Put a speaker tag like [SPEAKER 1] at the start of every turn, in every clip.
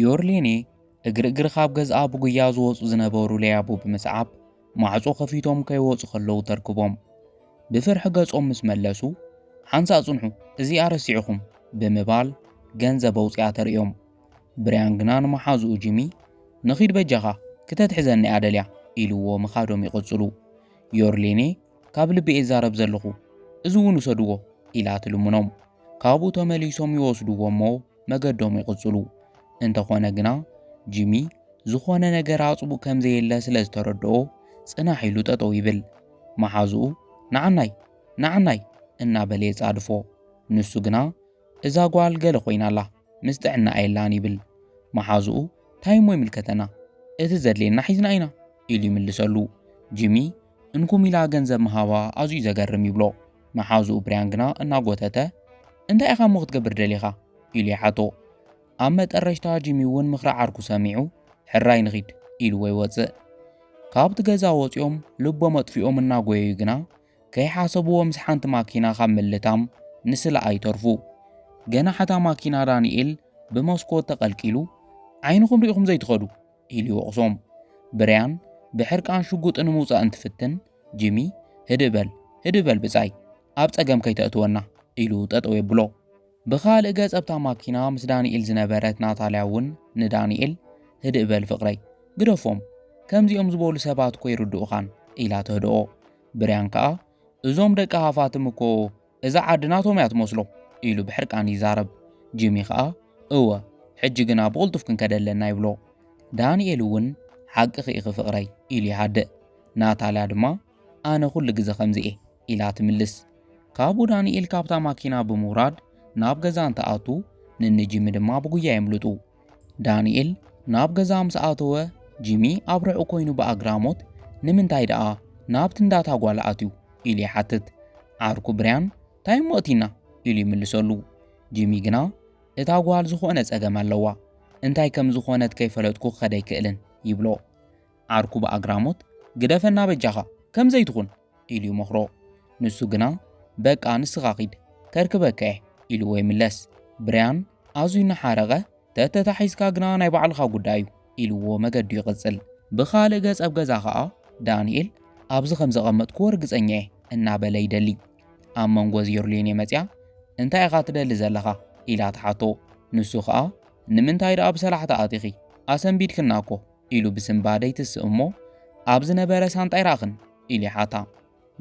[SPEAKER 1] ዮርሌኔ እግሪ እግሪ ካብ ገዝኣ ብጉያ ዝወፁ ዝነበሩ ለያቡ ብምስዓብ ማዕፆ ከፊቶም ከይወፁ ከለዉ ተርክቦም ብፍርሒ ገጾም ምስ መለሱ ሓንሳ ጽንሑ እዚኣ ረሲዕኹም ብምባል ገንዘብ ኣውፅኣ ተርእዮም ብርያን ግና ንመሓዝኡ ጂሚ ንኺድ በጃኻ ክተትሕዘኒ እያ ደልያ ኢልዎ ምኻዶም ይቕጽሉ ዮርሌኔ ካብ ልቢ እየ ዛረብ ዘለኹ እዚ እውን ውሰድዎ ኢላ ትልምኖም። ካብኡ ተመሊሶም ይወስድዎ እሞ መገዶም ይቕጽሉ። እንተኾነ ግና ጂሚ ዝኾነ ነገር ኣጽቡ ከም ዘየለ ስለ ዝተረድኦ ጽናሕ ኢሉ ጠጠው ይብል። መሓዝኡ ናዓናይ ናዓናይ እናበለ የጻድፎ። ንሱ ግና እዛ ጓል ገለ ኮይና ኣላ ምስ ጥዕና የላን ይብል። መሓዝኡ ታይ እሞ ይምልከተና እቲ ዘድልየና ሒዝና ኢና ኢሉ ይምልሰሉ። ጂሚ እንኩም ኢላ ገንዘብ ምሃባ ኣዝዩ ዘገርም ይብሎ። መሓዝኡ ብርያን ግና እናጎተተ እንታይ ኢኻ እሞ ክትገብር ደሊኻ? ኢሉ ይሓቶ። ኣብ መጠረሽታ ጂሚ እውን ምኽሪ ዓርኩ ሰሚዑ ሕራይ ንኺድ ኢልዎ ይወጽእ። ካብቲ ገዛ ወጺኦም ልቦም ኣጥፊኦም እናጎየዩ ግና ከይሓሰብዎ ምስ ሓንቲ ማኪና ካብ ምልታም ንስለኣ ይተርፉ። ገናሕ እታ ማኪና ዳንኤል ብመስኮት ተቐልቂሉ ዓይንኹም ሪኢኹም ዘይትኸዱ ኢሉ ይወቕሶም። ብርያን ብሕርቃን ሽጉጡ ንምውጻእ እንትፍትን፣ ጂሚ ህድእ በል ህድእ በል ብጻይ ኣብ ጸገም ከይተእትወና ኢሉ ጠጠው የብሎ። ብኻልእ ገጽ ኣብታ ማኪና ምስ ዳንኤል ዝነበረት ናታልያ እውን ንዳንኤል ህድእ በል ፍቕረይ ግደፎም ከምዚኦም ዝበሉ ሰባት እኮ ይርድኡኻን ኢላ ተህድኦ። ብርያን ከኣ እዞም ደቂ ሃፋትም እኮ እዛ ዓዲ ናቶም እያ ትመስሎ ኢሉ ብሕርቃን ይዛረብ። ጂሚ ኸኣ እወ ሕጂ ግና ብቕልጡፍ ክንከደ ኣለና ይብሎ። ዳንኤል እውን ሓቅኺ ኢኺ ፍቕረይ ኢሉ ይሃድእ። ናታልያ ድማ ኣነ ኩሉ ግዘ ከምዚ እየ ኢላ ትምልስ። ካብኡ ዳንኤል ካብታ ማኪና ብምውራድ ናብ ገዛ እንትኣቱ ንንጂሚ ድማ ብጉያ የምልጡ። ዳንኤል ናብ ገዛ ምስ ኣተወ ጂሚ ኣብ ርሑቕ ኮይኑ ብኣግራሞት ንምንታይ ደኣ ናብቲ እንዳታ ጓል ኣትዩ ኢሉ ይሓትት። ዓርኩ ብርያን እንታይ እሞ እቲና ኢሉ ይምልሰሉ። ጂሚ ግና እታ ጓል ዝኾነ ጸገም ኣለዋ እንታይ ከም ዝኾነት ከይፈለጥኩ ክኸድ ኣይክእልን ይብሎ። ዓርኩ ብኣግራሞት ግደፈና በጃኻ ከምዘይትኹን ኢሉ ይመኽሮ። ንሱ ግና በቃ ንስኻ ኺድ ከርክበካ እየ ኢልዎ ይምለስ። ብርያን ኣዝዩ እናሓረቐ ተተታሒዝካ ግና ናይ ባዕልኻ ጉዳይ እዩ ኢልዎ መገዱ ይቕጽል። ብኻልእ ገጽ ኣብ ገዛ ኸኣ ዳንኤል ኣብዚ ከም ዘቐመጥክዎ ርግጸኛ እየ እናበለ ይደሊ። ኣብ መንጎ እዚ ዮርሌኔ መጺኣ እንታይ ኢኻ ትደሊ ዘለኻ ኢላ ትሓቶ። ንሱ ኸኣ ንምንታይ ደኣ ብሰላሕታ ኣቲኺ ኣሰንቢድክና እኮ ኢሉ ብስንባደ ይትስእ እሞ፣ ኣብ ዝነበረ ሳንጣ ኣይረኣኽን? ኢሉ ይሓታ።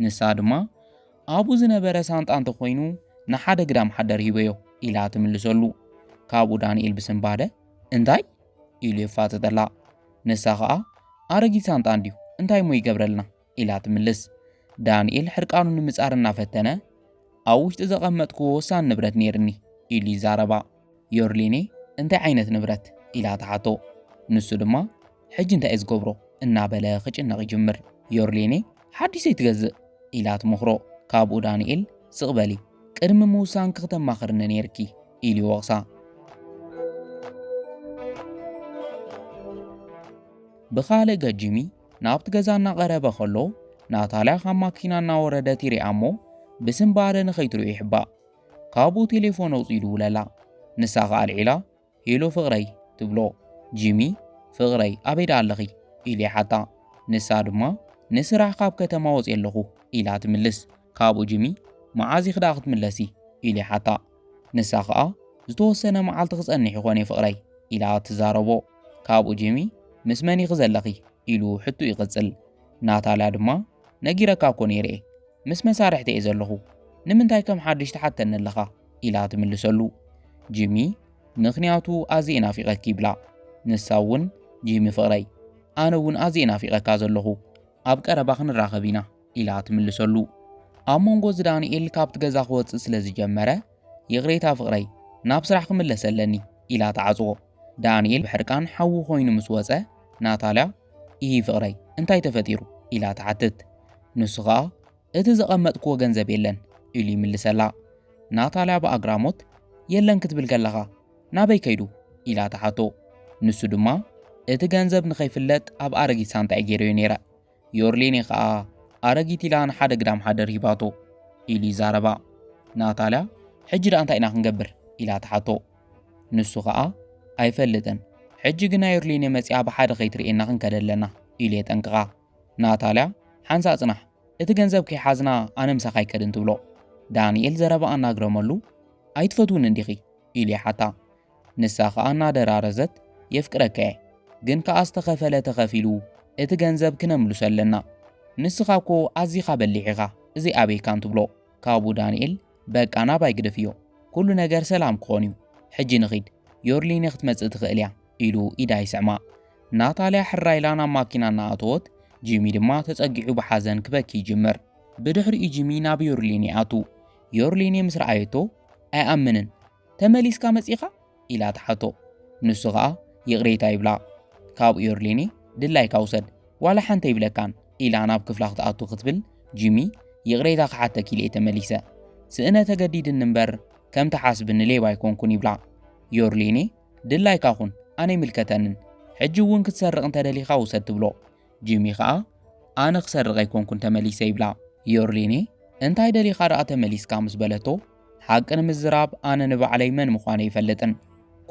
[SPEAKER 1] ንሳ ድማ፣ ኣብኡ ዝነበረ ሳንጣ እንተ ኾይኑ ንሓደ ግዳም ሓደር ሂበዮ፣ ኢላ ትምልሰሉ። ካብኡ ዳንኤል ብስንባደ፣ እንታይ? ኢሉ የፋጥጠላ። ንሳ ኸኣ፣ ኣረጊት ሳንጣ እንድዩ፣ እንታይ እሞ ይገብረልና? ኢላ ትምልስ። ዳንኤል ሕርቃኑ ንምጻር እናፈተነ ኣብ ውሽጢ ዘቐመጥክዎ ወሳኒ ንብረት ነይርኒ ኢሉ ይዛረባ። ዮርሊኔ እንታይ ዓይነት ንብረት ኢላ ትሓቶ። ንሱ ድማ ሕጂ እንታይ እዩ ዝገብሮ እናበለ ክጭነቕ ይጅምር። ዮርሊኔ ሓድሽ ዘይትገዝእ ኢላ ትመኽሮ። ካብኡ ዳንኤል ስቕ በሊ ቅድሚ ምውሳንኪ ክተማኽርኒ ነይርኪ ኢሉ ይወቕሳ። ብኻልእ ገጂሚ ናብቲ ገዛ እናቐረበ ከሎ ናታልያ ካብ ማኪና እናወረደት ይሪኣ እሞ ብስምባደ ንኸይትሪኦ ይሕባእ። ካብኡ ቴሌፎን ኣውፂኡ ይድውለላ። ንሳ ከዓ ኣልዒላ ሄሎ ፍቕረይ ትብሎ። ጂሚ ፍቕረይ ኣበይ ደኣ ኣለኺ ኢሉ ይሓታ። ንሳ ድማ ንስራሕ ካብ ከተማ ወፂኤ ኣለኹ ኢላ ትምልስ። ካብኡ ጂሚ መዓዝ ኢኺ ደኣ ክትምለሲ ኢሉ ይሓታ። ንሳ ኸኣ ዝተወሰነ መዓልቲ ክጸንሕ ይኾን እየ ፍቕረይ ኢላ ትዛረቦ። ካብኡ ጂሚ ምስ መን ኢኺ ዘለኺ ኢሉ ሕቱ ይቕጽል። ናታልያ ድማ ነጊረካ እኮ ነይረ እየ ምስ መሳርሕቲ እየ ዘለኹ ንምንታይ ከም ሓድሽ ትሓተኒ ኣለኻ ኢላ ትምልሰሉ። ጂሚ ምኽንያቱ ኣዝየ ናፊቐኪ ይብላ። ንሳ እውን ጂሚ ፍቕረይ ኣነ እውን ኣዝየ ናፊቐካ ዘለኹ ኣብ ቀረባ ክንራኸብ ኢና ኢላ ትምልሰሉ። ኣብ መንጎ እዚ ዳንኤል ካብቲ ገዛ ክወጽእ ስለ ዝጀመረ ይቕሬታ ፍቕረይ ናብ ስራሕ ክምለስ ኣለኒ ኢላ ትዓጽዎ። ዳንኤል ብሕርቃን ሓዊ ኮይኑ ምስ ወጸ ናታልያ ኢሂ ፍቕረይ እንታይ ተፈጢሩ ኢላ ትሓትት። ንሱ ከኣ እቲ ዘቐመጥክዎ ገንዘብ የለን ኢሉ ይምልሰላ። ናታልያ ብኣግራሞት የለን ክትብል ከለኻ ናበይ ከይዱ ኢላ ትሓቶ። ንሱ ድማ እቲ ገንዘብ ንኸይፍለጥ ኣብ ኣረጊት ሳንጣይ ገይረዮ ነይረ ዮርሌኔ ከኣ ኣረጊት ኢላ ንሓደ ግዳም ሓደር ሂባቶ ኢሉ ይዛረባ። ናታልያ ሕጂ ደኣ እንታይ ኢና ክንገብር ኢላ ትሓቶ። ንሱ ከኣ ኣይፈልጥን፣ ሕጂ ግና ዮርሌኔ መጺኣ ብሓደ ከይትርእየና ክንከደ ኣለና ኢሉ የጠንቅቓ። ናታልያ ሓንሳ ጽናሕ፣ እቲ ገንዘብ ከይሓዝና ኣነ ምሳኻ ኣይከድን ትብሎ። ዳንኤል ዘረባ ኣናግረመሉ ኣይትፈትውን እንዲኺ ኢሉ ይሓታ። ንሳ ከኣ እናደራረዘት የፍቅረካየ ግን ከኣ ዝተኸፈለ ተኸፊሉ እቲ ገንዘብ ክነምልሶ ኣለና ንስኻ እኮ ኣዚኻ በሊሕ ኢኻ እዚ ኣበይ ካን ትብሎ ካብኡ ዳንኤል በቃ ናባይ ግደፍዮ ኩሉ ነገር ሰላም ክኾን እዩ ሕጂ ንኺድ ዮርሊነ ክትመጽእ ትኽእል እያ ኢሉ ኢዳ ይስዕማ ናታልያ ሕራ ኢላ ናብ ማኪና እናኣተወት ጂሚ ድማ ተጸጊዑ ብሓዘን ክበኪ ይጅምር ብድሕሪኡ ጂሚ ናብ ዮርሊን ይኣቱ ዮርሊን ምስ ረኣየቶ ኣይኣምንን ተመሊስካ መጺኻ? ኢላ ትሓቶ። ንሱ ኸኣ ይቕሬታ ይብላ። ካብ ዮርሊኒ ድላይካ ውሰድ ዋላ ሓንቲ ኣይብለካን ኢላ ናብ ክፍላ ክትኣቱ ክትብል ጂሚ ይቕሬታ ክሓተኪ ኢለ'የ ተመሊሰ። ስእነ ተገዲድኒ እምበር ከም ትሓስብኒ ሌባ ኣይኮንኩን ይብላ። ዮርሊኒ ድላይካ ኩን ኣነ ኣይምልከተንን ሕጂ እውን ክትሰርቕ እንተደሊኻ ውሰድ ትብሎ። ጂሚ ከኣ ኣነ ክሰርቕ ኣይኮንኩን ተመሊሰ ይብላ። ዮርሊኒ እንታይ ደሊኻ ደኣ ተመሊስካ ምስ በለቶ ሓቂ ንምዝራብ ኣነ ንባዕለይ መን ምዃነ ይፈልጥን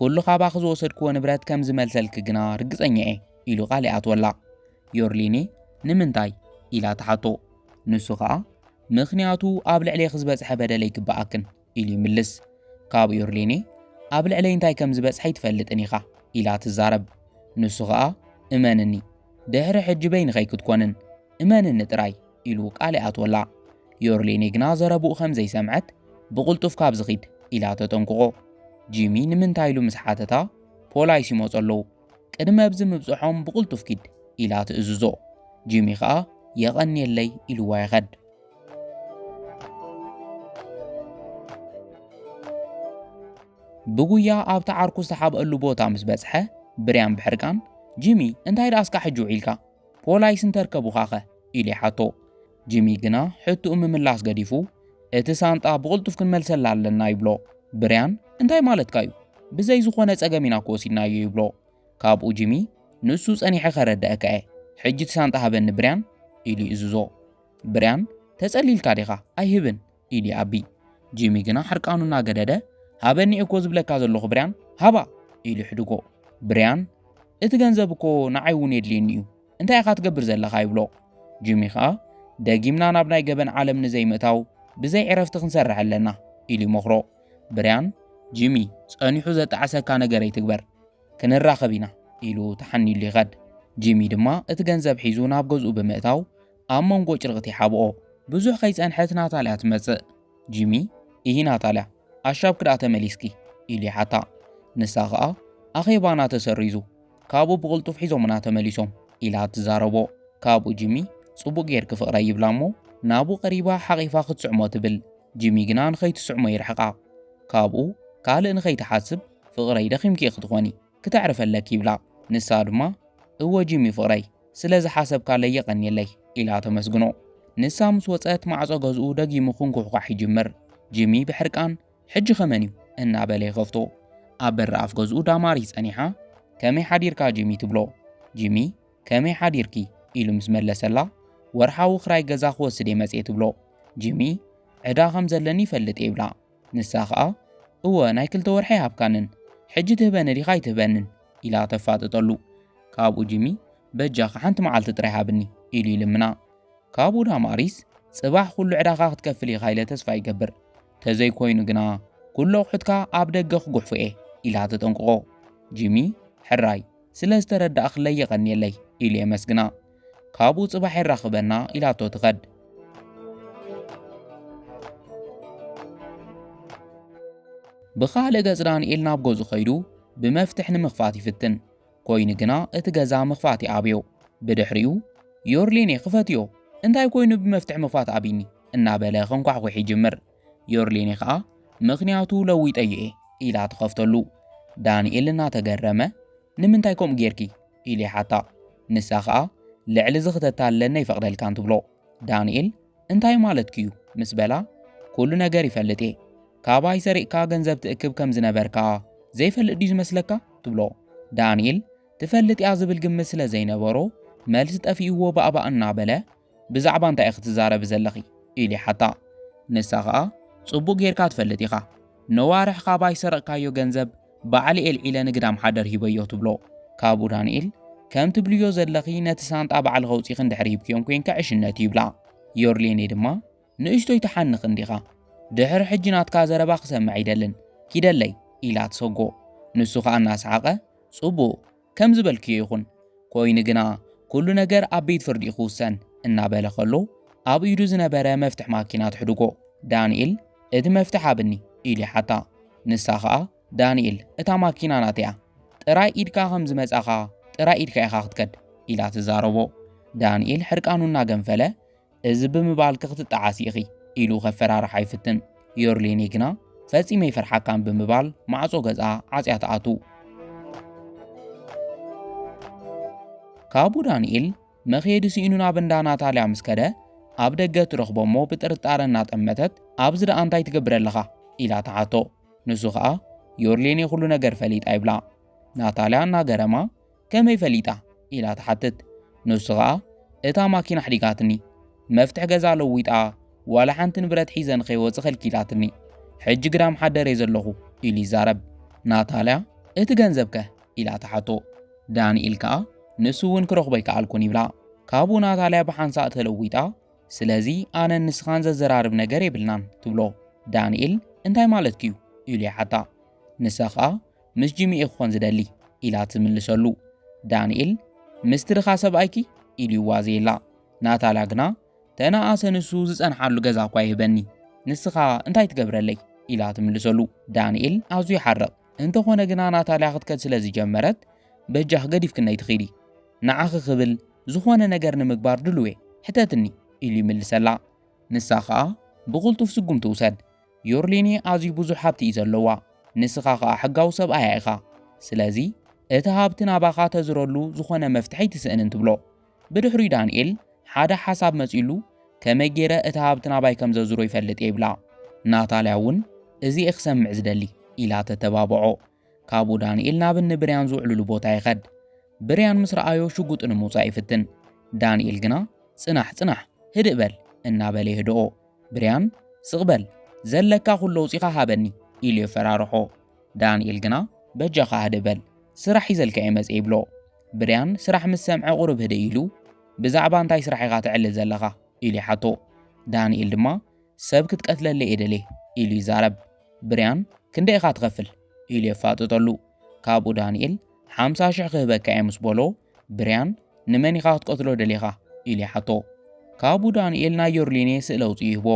[SPEAKER 1] ኩሉ ካባኺ ዝወሰድክዎ ንብረት ከም ዝመልሰልኪ ግና ርግጸኛ እየ ኢሉ ቃል ይኣትወላ። ዮርሊኒ ንምንታይ ኢላ ትሓቶ ንሱ ከኣ ምኽንያቱ ኣብ ልዕሌኺ ዝበጽሐ በደል ኣይግበኣክን ኢሉ ይምልስ። ካብኡ ዮርሌኔ ኣብ ልዕለይ እንታይ ከም ዝበጽሐ ኣይትፈልጥን ኢኻ ኢላ ትዛረብ። ንሱ ኸኣ እመንኒ ድሕሪ ሕጂ በይንኸይ ክትኮንን እመንኒ ጥራይ ኢሉ ቃል ይኣትወላ። ዮርሌኔ ግና ዘረብኡ ከም ዘይሰምዐት ብቕልጡፍ ካብዚ ኺድ ኢላ ተጠንቅቖ። ጂሚ ንምንታይ ኢሉ ምስ ሓተታ ፖላይስ ይመጹ ኣለዉ ቅድሚ ኣብዚ ምብጽሖም ብቕልጡፍ ኪድ ኢላ ትእዝዞ። ጂሚ ኸኣ የቐንየለይ ኢልዋ ይኸድ። ብጉያ ኣብቲ ዓርኩ ዝተሓብኣሉ ቦታ ምስ በጽሐ ብርያም ብሕርቃን ጂሚ እንታይ ደኣ እስካ ሕጂ ውዒልካ ፖላይስ እንተርከቡኻኸ ኢሉ ይሓቶ። ጂሚ ግና ሕትኡ ምምላስ ገዲፉ እቲ ሳንጣ ብቕልጡፍ ክንመልሰላ ኣለና ይብሎ። ብርያን እንታይ ማለትካ እዩ ብዘይ ዝኾነ ጸገም ኢና ክወሲድናዮ ይብሎ። ካብኡ ጂሚ ንሱ ጸኒሐ ከረድኣካ እየ ሕጂ እቲ ሳንጣ ሃበኒ ብርያን ኢሉ ይእዝዞ። ብርያን ተጸሊልካ ዲኻ ኣይህብን ኢሉ ይኣቢ። ጂሚ ግና ሕርቃኑ እናገደደ ሃበኒ እየ እኮ ዝብለካ ዘለኹ ብርያን ሃባ ኢሉ ይሕድጎ። ብርያን እቲ ገንዘብ እኮ ንዓይ እውን የድልየኒ እዩ እንታይ ኢኻ ትገብር ዘለኻ ይብሎ። ጂሚ ከኣ ደጊምና ናብ ናይ ገበን ዓለም ንዘይምእታው ብዘይ ዕረፍቲ ክንሰርሕ ኣለና ኢሉ ይመኽሮ። ብርያን ጂሚ ጸኒሑ ዘጣዕሰካ ነገር ኣይትግበር ክንራኸብ ኢና ኢሉ ተሓኒሉ ይኸድ። ጂሚ ድማ እቲ ገንዘብ ሒዙ ናብ ገዝኡ ብምእታው ኣብ መንጎ ጭርቕት ይሓብኦ። ብዙሕ ከይጸንሐት ናታልያ ትመጽእ። ጂሚ፣ እሂ ናታልያ፣ ኣሻብ ክድኣ ተመሊስኪ? ኢሉ ይሓታ። ንሳ ኸኣ፣ ኣኼባና ተሰሪዙ፣ ካብኡ ብቕልጡፍ ሒዞምና ተመሊሶም፣ ኢላ ትዛረቦ። ካብኡ ጂሚ፣ ጽቡቕ ጌርኪ ፍቕረይ፣ ይብላ እሞ ናብኡ ቀሪባ ሓቚፋ ክትስዕሞ ትብል። ጂሚ ግና ንኸይትስዕሞ ይርሕቃ። ካብኡ ካልእ ንኸይትሓስብ ፍቕረይ ደኺምኪ ኢኺ ትኾኒ። ክተዕርፊ ኣለኪ ይብላ። ንሳ ድማ እወ ጂሚ ፍቕረይ ስለ ዝሓሰብካለይ የቐንየለይ ኢላ ተመስግኖ። ንሳ ምስ ወጸት ማዕጾ ገዝኡ ደጊሙ ክንኩሕኳሕ ይጅምር። ጂሚ ብሕርቃን ሕጂኸ መን'ዩ እናበለ ይኸፍቶ። ኣብ በሪ ኣፍ ገዝኡ ዳማሪስ ጸኒሓ ከመይ ሓዲርካ ጂሚ ትብሎ። ጂሚ ከመይ ሓዲርኪ ኢሉ ምስ መለሰላ ወርሓዊ ክራይ ገዛ ክወስድ'የ መጽየ ትብሎ። ጂሚ ዕዳ ከም ዘለኒ ይፈልጥ'የ ይብላ። ንሳ ኸኣ እወ ናይ ክልተ ወርሒ ኣይሃብካንን ሕጂ ትህበኒ ዲኻ ኣይትህበንን ኢላ ተፋጥጠሉ ካብኡ ጂሚ በጃኻ ሓንቲ መዓልቲ ጥራይ ሃብኒ ኢሉ ይልምና ካብኡ ዳማሪስ ጽባሕ ኩሉ ዕዳኻ ክትከፍል ኢኻ ኢለ ተስፋ ይገብር ተዘይኮይኑ ግና ኩሉ ኣቑሑትካ ኣብ ደገ ክጉሕፉ እየ ኢላ ተጠንቅቖ ጂሚ ሕራይ ስለ ዝተረዳእክለይ የቐንየለይ ኢሉ የመስግና ካብኡ ጽባሕ የራኽበና ኢላቶ ትኸድ። ብኻልእ ገጽ ዳንኤል ናብ ገዙ ኸይዱ ብመፍትሕ ንምኽፋት ይፍትን። ኮይኑ ግና እቲ ገዛ ምኽፋት ይኣብዮ። ብድሕሪኡ ዮርሌኔ ክፈትዮ እንታይ ኮይኑ ብመፍትሕ ምኽፋት ኣቢኒ እናበለ ከንኳሕኩሕ ይጅምር። ዮርሌኔ ኸኣ ምኽንያቱ ለዊጠዮ እየ ኢላ ትኸፍተሉ። ዳንኤል እናተገረመ ንምንታይ ከምኡ ጌርኪ? ኢሉ ይሓታ። ንሳ ኸኣ ልዕሊ እዚ ክተታልለኒ ኣይፈቕደልካን ትብሎ። ዳንኤል እንታይ ማለትኪ'ዩ? ምስ በላ ኩሉ ነገር ይፈልጥ'የ። ካባይ ሰሪቕካ ገንዘብ ትእክብ ከም ዝነበርካ ዘይፈልጥ ድዩ ዝመስለካ? ትብሎ። ዳንኤል ትፈልጥ'ያ ዝብል ግምት ስለ ዘይነበሮ መልሲ ጠፊእዎ ባእባእ እናበለ ብዛዕባ እንታይ ኢኺ ትዛረቢ ዘለኺ? ኢሉ ይሓታ። ንሳ ኸኣ ጽቡቕ ጌርካ ትፈልጥ ኢኻ፣ ነዋርሕ ካባይ ዝሰረቕካዮ ገንዘብ ባዕለይ ኣልዒለ ንግዳም ሓደር ሂበዮ ትብሎ። ካብኡ ዳንኤል፣ ከም ትብልዮ ዘለኺ ነቲ ሳንጣ ባዕልኺ ኣውጺኺ እንድሕር ሂብክዮም ኴንካ ዕሽነት እዩ ይብላ። ዮርሌኔ ድማ ንእሽቶይ ትሓንኽ እንዲኻ፣ ድሕሪ ሕጂ ናትካ ዘረባ ክሰምዕ ኣይደልን፣ ኪደለይ! ኢላ ትሰጎ። ንሱ ኸኣ እናሰሓቐ፣ ጽቡቕ! ከም ዝበልክዮ ይኹን፣ ኮይኑ ግና ኩሉ ነገር ኣብ ቤት ፍርዲ እዩ ክውሰን እናበለ ከሎ ኣብ ኢዱ ዝነበረ መፍትሕ ማኪና ትሕድጎ። ዳንኤል እቲ መፍትሕ ሃብኒ ኢሉ ይሓታ። ንሳ ኸኣ ዳንኤል እታ ማኪና ናተይ'ያ፣ ጥራይ ኢድካ ከም ዝመጻኻ ጥራይ ኢድካ ኢኻ ክትከድ ኢላ ትዛረቦ። ዳንኤል ሕርቃኑ እናገንፈለ እዚ ብምባልኪ ክትጠዓሲ ኢኺ ኢሉ ከፈራርሓ ይፍትን። ዮርሊኒ ግና ፈጺመ ይፈርሓካን ብምባል ማዕጾ ገዝኣ ዓጽያ ትኣቱ። ካብኡ ዳንኤል መኽየዲ ስኢኑ ናብ እንዳ ናታልያ ምስ ከደ ኣብ ደገ ትረኽቦ እሞ ብጥርጣረ እናጠመተት ኣብዚ ደኣ እንታይ ትገብረ ኣለኻ ኢላ ተሓቶ ንሱ ኸኣ ዮርሌኔ ኩሉ ነገር ፈሊጣ ይብላ ናታልያ እናገረማ ከመይ ፈሊጣ? ኢላ ትሓትት። ንሱ ኸኣ እታ ማኪና ኣሕዲጋትኒ፣ መፍትሕ ገዛ ለዊጣ ዋላ ሓንቲ ንብረት ሒዘ ንኸይወጽእ ከልኪላትኒ። ሕጂ ግዳም ሓደረ'የ ዘለኹ ኢሉ ይዛረብ። ናታልያ እቲ ገንዘብከ? ኢላ ትሓቶ። ዳንኤል ከኣ ንሱ'ውን ክረኽቦ ኣይከኣልኩን ይብላ። ካብኡ ናታልያ ብሓንሳእ ተለዊጣ ስለዚ ኣነን ንስኻን ዘዘራርብ ነገር የብልናን ትብሎ። ዳንኤል እንታይ ማለትኪ'ዩ? ኢሉ ይሓታ። ንሳ ኸኣ ምስ ጂሚ እየ ክኾን ዝደሊ ኢላ ትምልሰሉ። ዳንኤል ምስቲ ድኻ ሰብኣይኪ ኢሉ ይዋዘየላ። ናታላ ግና ተነኣሰ ንሱ ዝጸንሓሉ ገዛ እኳ ይህበኒ ንስኻ እንታይ ትገብረለይ ኢላ ትምልሰሉ። ዳንኤል ኣዝዩ ይሓርቕ። እንተኾነ ግና ናታልያ ክትከድ ስለ ዝጀመረት በጃኽ ገዲፍክነይ ትኺዲ ንዓኺ ክብል ዝኾነ ነገር ንምግባር ድልዌ ሕተትኒ ኢሉ ይምልሰላ። ንሳ ኸኣ ብቕልጡፍ ስጉምቲ ውሰድ ዮርሊኒ ኣዝዩ ብዙሕ ሃብቲ እዩ ዘለዋ ንስኻ ኸኣ ሕጋዊ ሰብኣያ ኢኻ ስለዚ እቲ ሃብቲ ናባኻ ተዝረሉ ዝኾነ መፍትሒ ኣይትስእንን ትብሎ። ብድሕሪኡ ዳንኤል ሓደ ሓሳብ መጺኡሉ ከመይ ጌረ እቲ ሃብቲ ናባይ ከም ዘዙሮ ይፈልጥ እየ ይብላ። ናታልያ እውን እዚ እየ ክሰምዕ ዝደሊ ኢላ ተተባብዖ። ካብኡ ዳንኤል ናብ እኒ ብርያን ዝውዕሉሉ ቦታ ይኸድ። ብርያን ምስ ረኣዮ ሽጉጡ ንምውጻእ ይፍትን። ዳንኤል ግና ጽናሕ ጽናሕ ህድእ በል እናበለ የህድኦ። ብርያን ስቕ በል ዘለካ ኩሉ ኣውጺኻ ሃበኒ ኢሉ የፈራርሖ። ዳንኤል ግና በጃኻ ህድእ በል ስራሕ ሒዘልካ እየ መጽየ ይብሎ። ብርያን ስራሕ ምስ ሰምዐ ቁሩብ ህድእ ኢሉ ብዛዕባ እንታይ ስራሕ ኢኻ ተዕልል ዘለኻ ኢሉ ይሓቶ። ዳንኤል ድማ ሰብ ክትቀትለለይ እየ ደልየ ኢሉ ይዛረብ። ብርያን ክንደይ ኢኻ ትኸፍል ኢሉ የፋጥጠሉ። ካብኡ ዳንኤል ሓምሳ ሽሕ ክህበካ እየ ምስ በሎ ብርያን ንመን ኢኻ ክትቀትሎ ደሊኻ ኢሉ ይሓቶ። ካብኡ ዳንኤል ናይ ዮርሊኔ ስእሊ ኣውፅኡ ይህቦ።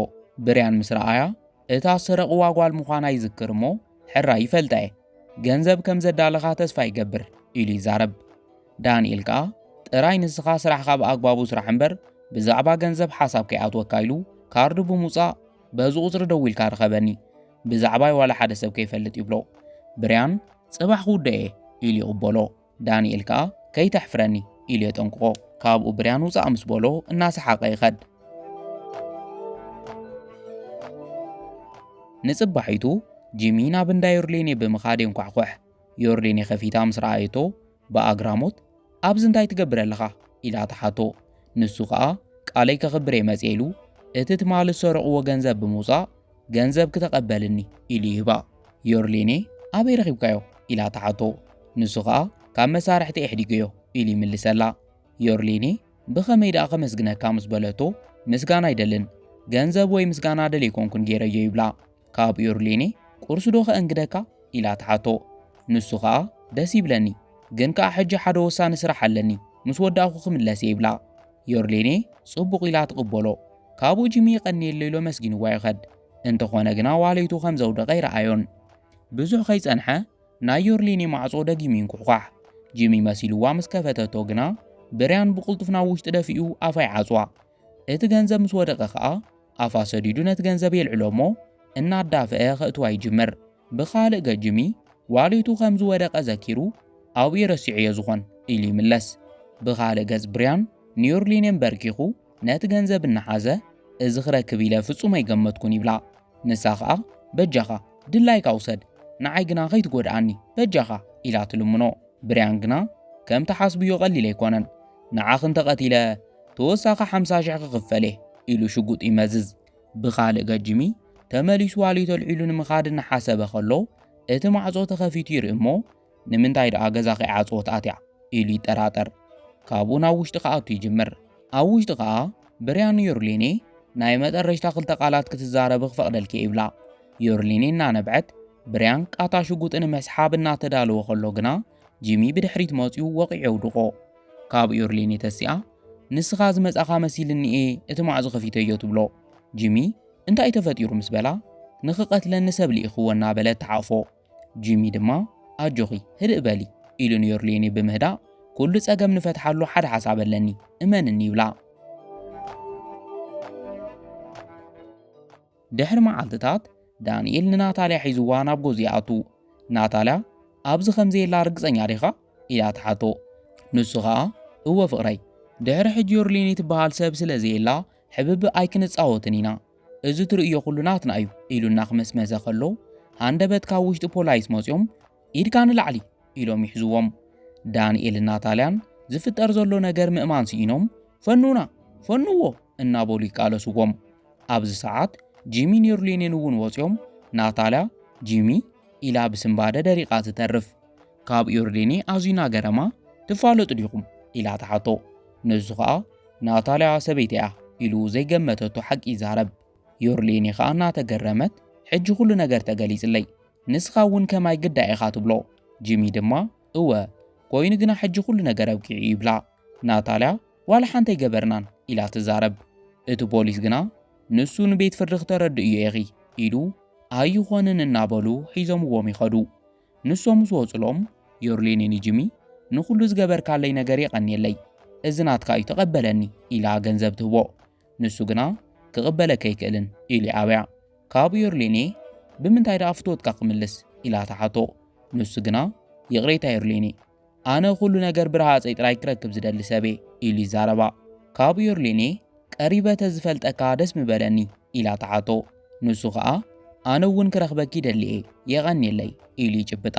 [SPEAKER 1] ብርያን ምስ ረኣያ እታ ዝሰረቕዋ ጓል ምዃና ይዝክር እሞ ሕራይ ይፈልጣ እየ ገንዘብ ከም ዘዳለኻ ተስፋ ይገብር ኢሉ ይዛረብ። ዳንኤል ከኣ ጥራይ ንስኻ ስራሕኻ ብኣግባቡ ስራሕ እምበር ብዛዕባ ገንዘብ ሓሳብ ከይኣትወካ ኢሉ ካርዱ ብምውጻእ በዚ ቁጽሪ ደዊልካ ርኸበኒ ብዛዕባይ ዋላ ሓደ ሰብ ከይፈልጥ ይብሎ። ብርያን ጽባሕ ክውደእ እየ ኢሉ ይቕበሎ። ዳንኤል ከኣ ከይተሕፍረኒ ኢሉ የጠንቅቖ። ካብኡ ብርያን ውጻእ ምስ በሎ እናሰሓቐ ይኸድ። ንጽባሒቱ ጂሚ ናብ እንዳ ዮርሌኔ ብምኻድ የንኳሕኩሕ። ዮርሌኔ ከፊታ ምስ ረኣየቶ ብኣግራሞት ኣብዚ እንታይ ትገብር ኣለኻ ኢላ ተሓቶ። ንሱ ከኣ ቃለይ ከኽብር እየ መጽኤ ኢሉ እቲ ትማሊ ዝሰረቕዎ ገንዘብ ብምውጻእ ገንዘብ ክተቐበልኒ ኢሉ ይህባ። ዮርሊኔ ኣበይ ረኺብካዮ ኢላ ትሓቶ። ንሱ ኸኣ ካብ መሳርሕቲ ኣሕዲገዮ ኢሉ ይምልሰላ። ዮርሊኔ ብኸመይ ደኣ ከመስግነካ ምስ በለቶ ምስጋና ኣይደልን ገንዘብ ወይ ምስጋና ደል ኣይኮንኩን ገይረዮ ይብላ። ካብ ዮርሊኔ ቁርሲ ዶ ከእንግደካ ኢላ ትሓቶ። ንሱ ኸኣ ደስ ይብለኒ ግን ከኣ ሕጂ ሓደ ወሳኒ ስራሕ ኣለኒ ምስ ወዳእኩ ክምለስ እየ ይብላ። ዮርሌኔ ጽቡቕ ኢላ ትቕበሎ። ካብኡ ጂሚ ይቐንየለይ ኢሉ ኣመስጊንዋ ይኸድ። እንተኾነ ግና ዋሌቱ ከም ዘውደቐ ኣይረኣዮን። ብዙሕ ከይጸንሐ ናይ ዮርሌኔ ማዕጾ ደጊሙ ይንኩሕኳሕ። ጂሚ መሲልዋ ምስ ከፈተቶ ግና ብርያን ብቕልጡፍ ናብ ውሽጢ ደፊኡ ኣፋ ይዓጽዋ። እቲ ገንዘብ ምስ ወደቐ ከኣ ኣፋ ሰዲዱ ነቲ ገንዘብ የልዕሎ እሞ እናዳፈአ ከእትዋ ይጅምር። ብኻልእ ገጅሚ ዋሊቱ ከም ዝወደቐ ዘኪሩ፣ ኣብኡ ረሲዐዮ ዝኾን ኢሉ ይምለስ። ብኻልእ ገጽ ብርያን ንዩርሊን የምበርኪኹ ነቲ ገንዘብ እናሓዘ፣ እዚ ክረክብ ኢለ ፍጹም ኣይገመትኩን ይብላ። ንሳ ኸኣ በጃኻ ድላይካ ውሰድ፣ ንዓይ ግና ከይትጎድኣኒ በጃኻ ኢላ ትልምኖ። ብርያን ግና ከም ትሓስብዮ ቀሊል ኣይኮነን። ንዓኺ እንተ ቀቲለ ተወሳኺ ሓምሳ ሽሕ ክኽፈል እየ ኢሉ ሽጉጡ ይመዝዝ። ብኻልእ ገጂሚ ተመሊሱ ዋልዩት ኣልዒሉ ንምኻድ እናሓሰበ ከሎ እቲ ማዕጾ ተኸፊቱ ይርኢ እሞ ንምንታይ ደኣ ገዛ ከይዓጽወት ኣትያ ኢሉ ይጠራጠር። ካብኡ ናብ ውሽጢ ክኣቱ ይጅምር። ኣብ ውሽጢ ከኣ ብርያኑ ዮርሊኔ ናይ መጠረሽታ ክልተ ቃላት ክትዛረብ ክፈቕደልኪ ይብላ። ዮርሊኔ እናነብዐት ብርያን ቃታ ሽጉጥ ንምስሓብ እናተዳለወ ከሎ ግና ጂሚ ብድሕሪት መጺኡ ወቒዑ የውድቖ። ካብ ዩርሊን የተሲኣ ንስኻ ዝመጻኻ መሲልኒ እየ እቲ ማዕዞ ከፊተዮ ትብሎ ጂሚ እንታይ ተፈጢሩ ምስ በላ ንኽቐትለኒ ሰብ ልኢኽዎ እናበለት ተሓቕፎ ጂሚ ድማ ኣጆኺ ህድእ በሊ ኢሉ ንዮርሌኒ ብምህዳእ ኩሉ ጸገም ንፈትሓሉ ሓደ ሓሳብ ኣለኒ እመንኒ ይብላ ድሕሪ መዓልትታት ዳንኤል ንናታልያ ሒዝዋ ናብ ጎዚ ይኣቱ ናታልያ ኣብዚ ከምዘየላ ርግጸኛ ዲኻ ኢላ ትሓቶ። ንሱ ኸኣ እወ ፍቕረይ፣ ድሕሪ ሕጂ ዮርሊኒ ትበሃል ሰብ ስለ ዘየላ ሕብብእ ኣይክንጻወትን ኢና፣ እዚ ትርእዮ ኩሉ ናትና እዩ ኢሉ እናኽመስመሰ ከሎ ሃንደበት ካብ ውሽጢ ፖላይስ መጽዮም ኢድካ ንላዕሊ ኢሎም ይሕዝዎም። ዳንኤልን ናታልያን ዝፍጠር ዘሎ ነገር ምእማን ስኢኖም ፈኑና! ፈኑዎ! እናበሉ ይቃለስዎም። ኣብዚ ሰዓት ጂሚን ዮርሊኒን እውን ወጽዮም ናታልያ ጂሚ ኢላ ብስንባደ ደሪቓ ትተርፍ። ካብ ዮርዴኒ ኣዚና ገረማ ትፋለጡ ዲኹም ኢላ ተሓቶ ንሱ ኸኣ ናታልያ ሰበይቲ እያ ኢሉ ዘይገመተቶ ሓቂ ይዛረብ ዮርሌኒ ኸኣ እናተገረመት ሕጂ ኩሉ ነገር ተገሊጽለይ ንስኻ እውን ከማይ ግዳ ኢኻ ትብሎ ጂሚ ድማ እወ ኮይኑ ግና ሕጂ ኩሉ ነገር ኣብቂዑ ይብላ ናታልያ ዋላ ሓንቲ ኣይገበርናን ኢላ ትዛረብ እቲ ፖሊስ ግና ንሱ ንቤት ፍርዲ ክተረድእ እዩ ኢኺ ኢሉ ኣይኾንን እናበሉ ሒዞምዎም ይኸዱ ንሶም ዝወጹሎም ዮርሌኒ ንጂሚ ንኹሉ ዝገበርካለይ ነገር የቐንየለይ እዚ ናትካ እዩ ተቐበለኒ ኢላ ገንዘብ ትህቦ ንሱ ግና ክቕበለካ ኣይክእልን ኢሉ ይኣብያ ካብ ዮርሌኔ ብምንታይ ደኣ ፍትወትካ ክምልስ ኢላ ትሓቶ ንሱ ግና ይቕሬታ ዮርሌኔ ኣነ ኩሉ ነገር ብረሃጸይ ጥራይ ክረክብ ዝደሊ ሰብ'የ ኢሉ ይዛረባ። ካብ ዮርሊኔ ቀሪበ ተዝፈልጠካ ደስ ምበለኒ ኢላ ትሓቶ። ንሱ ከኣ ኣነ'ውን ክረኽበኪ ደሊ'የ የቐንየለይ ኢሉ ይጭብጣ።